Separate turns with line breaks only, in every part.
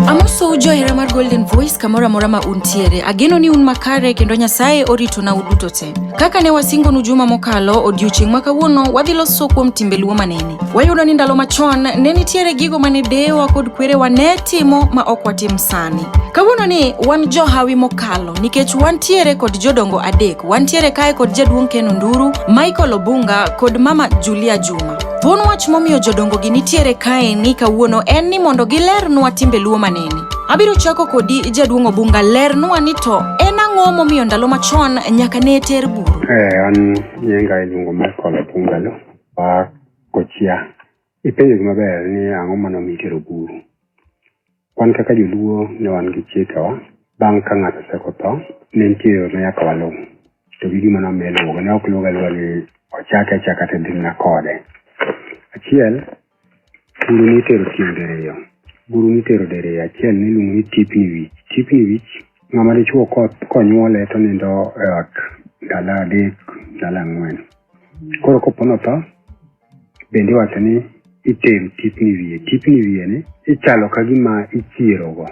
Amoso johera mar Golden Voice kamoro amora ma untiere. Ageno ni un makare kendo Nyasaye orito na uduto te. Kaka ne wasingonu juma mokalo, odiochieng' ma kawuono wadhi loso kuom timbe luo manene. Wayudo ni ndalo machon ne nitiere gigo mane deyewa kod kwerewa ne timo ma ok watim sani. Kawuono ni wan johawi mokalo nikech wantiere kod jodongo adek. Wantiere kae kod jaduong' Ken Onduru, Michael Obunga kod mama Julia Juma. Thuon wach momiyo jodongogi nitiere kae ni kawuono en ni mondo gilernwa timbe luo maneni. Abiro chako kodi jaduong' Obunga lernwa ni to en ang'o momiyo ndalo machon nyaka ne ter buru? Eh, an
nyinga iluongo Michael Obunga lo wa Kochia. Ipenjo gima ber ni ang'o mano mitero buru. Wan kaka joluo ne wan gi chikewa, bang' ka ng'ato oseko tho, ne nitie yo ma nyaka waluw. To gi gima nomiyo iluwogo, ne ok luwoga luwa ni ochake achaka to dhi mana kode. Achiel, buru nitero tieng' diriyo. Buru nitero diriyo, achiel niluongo ni tipni wich. Tipni wich, ng'ama dichuo ko- konyuole to nindo e ot ndalo adek, ndalo ang'wen. Koro kopo notho, bende iwacho ni itero tipni wiye tipni wiye ni ichalo ka gima ichierogo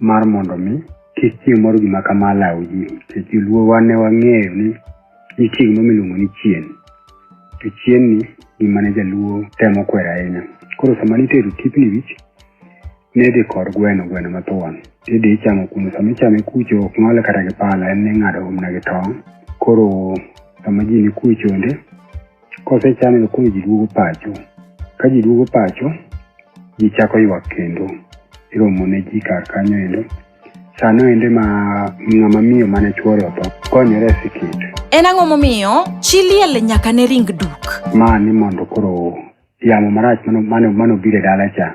mar mondo mi kik chieng' moro gima kama law ji nikech joluo wan ne wang'eyo ni nitie gima miluongo ni chien to chien ni gima ne jaluo temo kwero ahinya koro sama nitero tipni wich Nidhi kod gweno, gweno mathuon. Idhi ichamo kuno. Sama ichame kucho ok ng'ole kata gi pala, en ni ing'ado umna gi tong'. Koro sama ji ni kuwe chonde, kosechame to koro ji duogo pacho. Ka ji duogo pacho, ji chako ywak kendo. Iromo ne ji kar kanyo endo. Sano ende ma ng'ama miyo mane chuore otho konyore e sikit. En ang'o momiyo
chi liel nyaka ne ring duk? Ma ni mondo koro
yamo marach mano mano mano bire dala cha.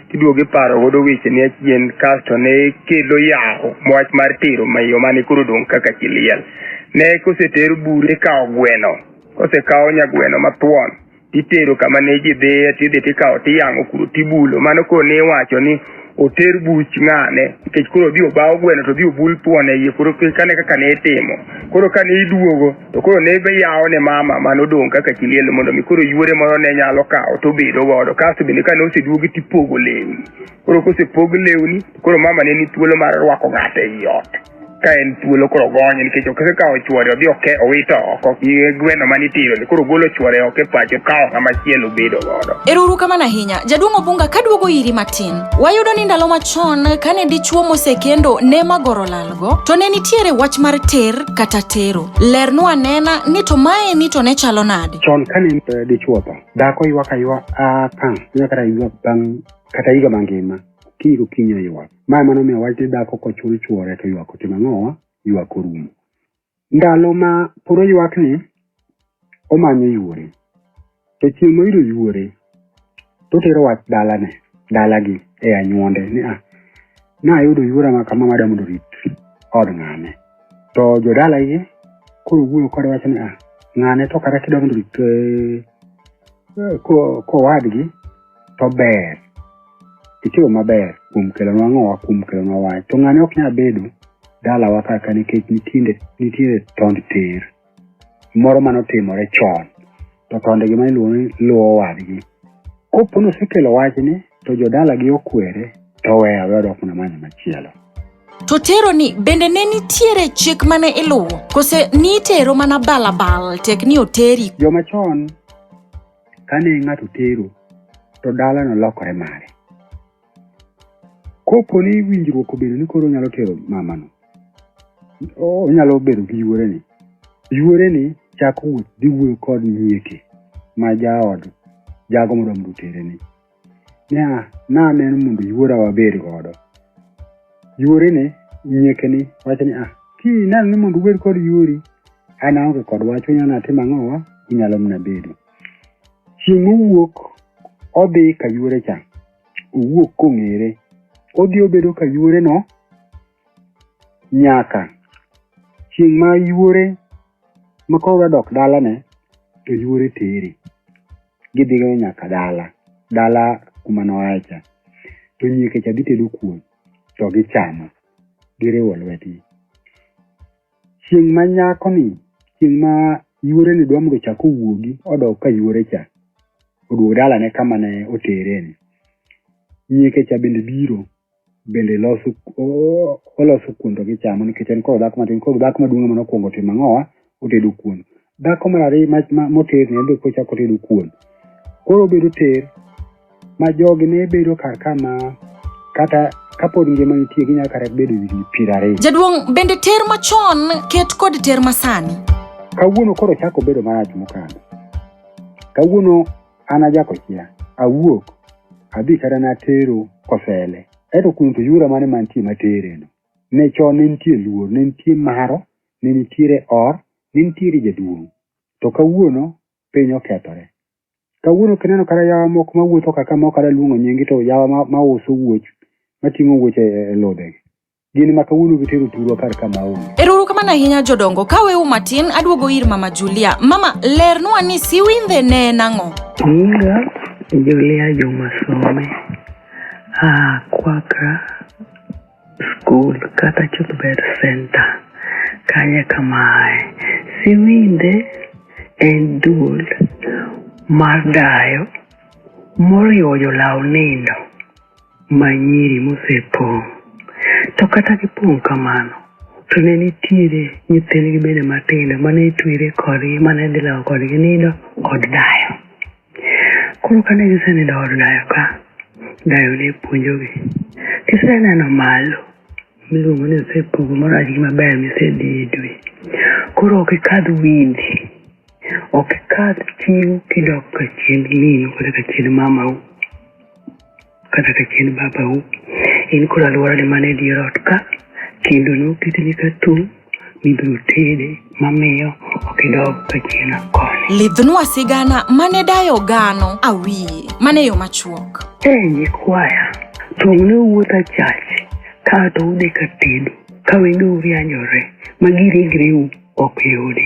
iduogo iparo godo weche ni achien kasto ne kelo yawo wach mar tero mayo mane koro dong' kaka chiliel ne koseter bure kawo gweno kosekawo nyagweno mathuon itero kama ne ji dhiye tidhi tikawo tiyang'o kuro tibulo mano koro ne iwacho ni oter buch ng'ane nikech koro odhi obawo gweno to odhi obul thuon e iye koro kane kaka ne itimo koro kane iduogo to koro ne yawo ne mama mane odong' kaka kiliel mondo mi koro yuore moro ne nyalo kawo to bedo godo kasto bende kane oseduogi to ipogo lewni koro kosepog lewni koro mama ne ni thuolo mar rwako ng'ato ei ot ka en thuolo koro gonye nikech ok osekawo chuore odhi oke owito oko gi gweno mane itiro ni koro golo chuore oko e pacho kawo ng'ama chielo bedo godo Eruru kamano ahinya.
Jaduong' Obunga kaduogo iri matin. Wayudo ni ndalo machon kane dichuo mosekendo ne magoro lalo. go to ne nitiere wach mar ter kata tero lernwa anena ni to mae ni to ne chalo nade chon kane eh,
dichuo tho dhako ywak aywak a pang inya kata ywak bang kata higa mangima kiny gokinyi oywak mae mano miyo wach ni dhako kochul chuore to ywak otimo ang'owa ywak orumo Ndalo ma puro ywakni, omanyo yuore. To chieng' moyudo yuore, to otero wach dalane, dalagi e anyuonde ni a, ah, nayudo yuora ma kama mada mondo rit od ng'ane. To jodalagi koro wuoyo kode wacho ni a, ah, ng'ane to kata kidwa mondo rit eh, kowadgi to ber itimo maber kuom kelonwa ng'owa kuom kelonwa wach to ng'ane ok nyal bedo dalawa kaka nikech nitiere nitiere tond ter moro mane otimore chon to tonde gi mane iluongo ni luwo wadgi kopo ni osekelo wachni to jodalagi okwere to weya we odok mana manyo machielo To
teroni bende ne nitiere chik mane iluwo? Kose nitero mana balabal tek ni oteri? joma chon
kane ng'ato tero to dalano lokore mare kopo ni winjruok obedo ni koro onyalo tero mamano onyalo bedo gi yuoreni yuoreni chako wuoth dhi wuoyo kod nyieke ma jaod jago modwa mondo otereni niya, naneno mondo yuora wabed godo. Yuorene, nyiekeni, wacho ni, ah, kineno ni mondo ubed kod yuori, an aonge kod wach, unyalo natim ang'owa, unyalo mana bedo. Chieng' mowuok, odhi ka yuore cha, owuok kong'ere, odhi obedo ka yuoreno nyaka chieng' ma yuore ma koro odwa dok dalane, to yuore tere. gidhigo nyaka dala dala kuma noaye cha to nyieke cha dhi tedo kuon to gichamo giriwo lwetgi chieng' ma nyakoni chieng' ma yuoreni dwa mondo chak owuogi odok ka yuore cha oduog dalane kama ne otereni nyieke cha bende biro bende loso o- oloso kuon to gichamo nikech en koro dhako matin koro dhako maduong' ema nokwongo timo ang'owa otedo kuon dhako mar ariyo ma- ma- moter ne be kochako otedo kuon koro obedo ter ma jogi ne bedo kar kama kata kapod ngima nitie ginyalo kata bedo higni piero ariyo Jaduong' bende ter
machon ket kod ter masani. kawuono koro
chako bedo marach mokalo kawuono An ajako chia, awuok, adhi kata natero kosele. Eto kuno to yura mane mantie matereno. Ne chon ne nitie luor, ne nitie maro, ne nitiere or, ne nitiere jaduong'. To kawuono piny okethore. Kawuono kineno kata yawa moko mawuotho kaka moko kata luongo nyingi to yawa ma, ma uso wuoch, mating'o wuoch e, e ludhegi. gin ma kawuono gitero thurwa kar ka maonge Eruru kamano ahinya
jodongo ka wewu matin aduogo ir mama Julia. Mama lernwa ni siwindhe ne en ang'o? Nyinga
Julia Juma Some a Kwaka School kata Chuthbet Center kanye kamae. Siwinde en duol mar dayo moriwo jolaw nindo ma nyiri mosepong'. To kata gipong' kamano, to ne nitiere nyithindgi bende matindo mane itwere kodgi mane dhi lawo kodgi nido od dayo. Koro kane gisenido od dayo ka, dayo ne puonjogi. Kiseneno malo miluongo ni osepogo morach gi maber misedhi e dwe. Koro ok ikadh windi, ok ikadh chiwo kidok ka chiend minu kata ka chiend mamau. kata ka chien babau in kod alworane man e dier ot ka kendo noketni ka tung' mibiro tede mamiyo ok idog ka chien koni Lidhnwa sigana
mane dayo gano awiye mane yo machuok. e nyikwaya
tung' ne owuoth achach kae to udhi ka tedu ka wengeu rianyore ma giringreu ok yudi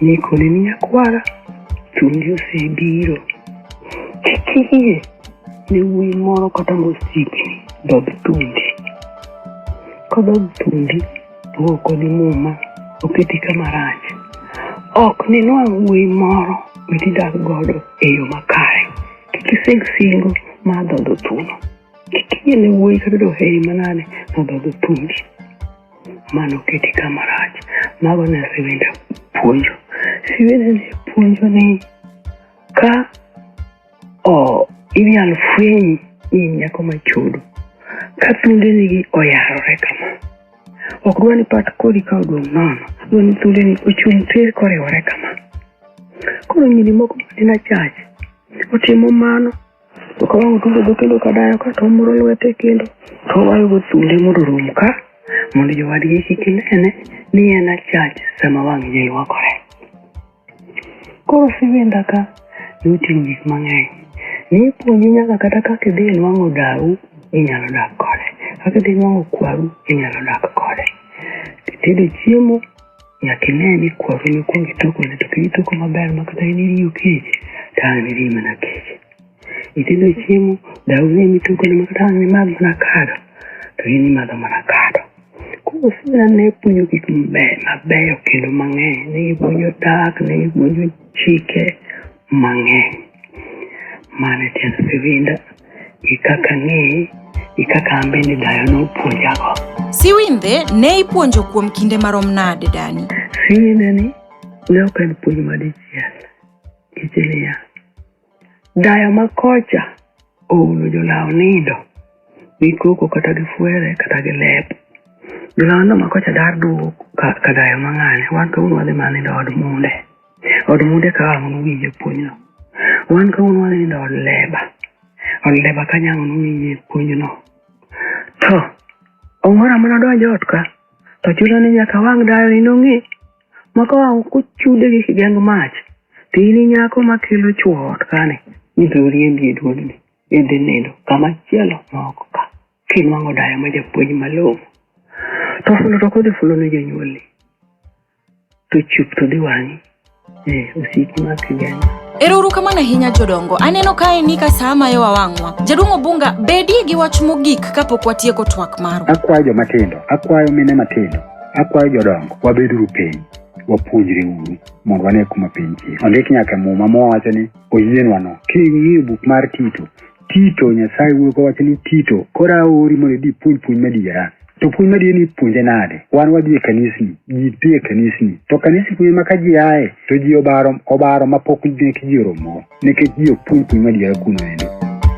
Nikone ni nyakwara chunyi osebiro. Kik iyie ne wuoyi moro kata mosiki dog thundi. Kodog thundi to ok odhi muma oketi kama rach. Ok ninwang' wuoyi moro mitidag godo e yo makare. Kik ising singo mar dhodho thuno. Kik iyie ne wuoyi kata doheri manade mar dhodho thundi. Mano keti kama rach. Mago ne siwinda puonjo. Siwinda ne puonjo ni ka o inyal fweny ni in nyako machudo ka thundenigi oyarore kama ok dwa ni pat kodi ka odong' nono dwa ni thundeni ochung' tir koriwore kama koro nyiri moko manena chach otimo mano To ka wang' otundo dho kendo ka dayo ka to omuro lwete kendo to owayogo thunde mondo orum ka mondo jowadgi kik nene ni en achach sama wang' ji ywakore. Koro siwinda ka noting'o gik mang'eny. Nipuonji nyaka kata kaka idhi e nwang'o dawu inyalo dak kode. Kaka idhi nwang'o kwaru inyalo dak kode. Kitedo chiemo Nyaka ine ni kwaru nokwong itoko ne to piny itoko maber ma kata in iriyo kech to ang' niriyi mana kech. Nyithindo chiemo, daw ne mitoko ne ma kata ang' nimadh mana kado to in imadho mana kado. Koro sina ne puonjo gik mabeyo mabeyo kendo mang'eny. Ne gipuonjo dak, ne gipuonjo chike, mang'eny. Mano e tiend siwinda gi kaka ang'eye gi kaka an bende dayo nopuonjago. Siwindhe
ne ipuonjo kuom kinde marom nade Dani? Siwindhe ni
ne ok en puonj madichiel nikech niya, dayo ma kocha ouno jolaw nindo gi koko kata gi fwere kata gi lep. Jolaw nindo ma kocha dar duogo ka, ka dayo mang'ane wan to un wadhi mana nindo od munde. Od munde ka ang'o nowinje puonjno? Wan kawuono wanindo od leba. Od leba kanyo ang'o nowinje puonjno? To ong'ora mana donjo ot ka to chuno ni nyaka wang' dayo ni nong'e maka wang' kuchude gi kigeng mach to in inyako makelo chwo ot kani ni to riembi e duodni idhi nindo kama chielo ma oko ka kinwang'o dayo ma japuonj malong'o to fulo to kodhi fulo ne jonyuolni to chup to dhi wang'i eh, osiki ma kigani Ero uru kamano
ahinya jodongo. Aneno kae ni ka saa mayo wawang'wa. Jaduong' Obunga, bedie gi wach mogik kapok watieko twak marwa. Akwayo joma tindo,
akwayo mine matindo, akwayo jodongo, wabeduru piny, wapuonjre uru mondo wane kuma piny chie. Ondik nyaka e muma mowacho ni oyienwano. King'iyo buk mar Tito, Tito, Nyasaye wuoyo kowacho ni Tito, koro aori mondo idhi puonj puonj madiera. To puonj madiera ni puonje nade? Wan wadhi e kanisni, ji dhi e kanisni. To kanisni kuye ma ka ji aye, to ji obaro, obaro ma pok nek ji oromo, nikech ji ok puonj puonj madiera kuno endo.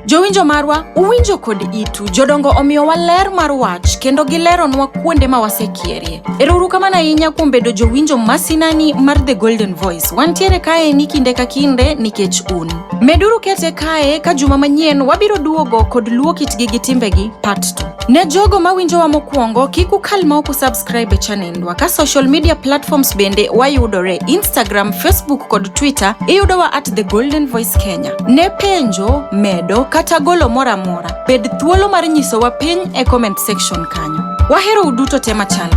Jowinjo marwa,
uwinjo kod itu. Jodongo omiyowa ler mar wach kendo gileronwa kuonde ma wasekierie. Erouru kamano ahinya kuom bedo jowinjo masinani mar The Golden Voice. Wantiere kaeni kinde ka kinde nikech un. Meduru kete kae ka juma manyien wabiro duogo kod luo kitgi gi timbegi part 2. Ne jogo mawinjowa mokwongo kik ukal ma ok usubscribe e chanendwa ka social media platforms bende wayudore Instagram, Facebook kod Twitter iyudowa at The Golden Voice Kenya. Ne penjo, medo kata golo moro amora, bed thuolo mar nyisowa piny e comment section kanyo. Wahero uduto te machalre.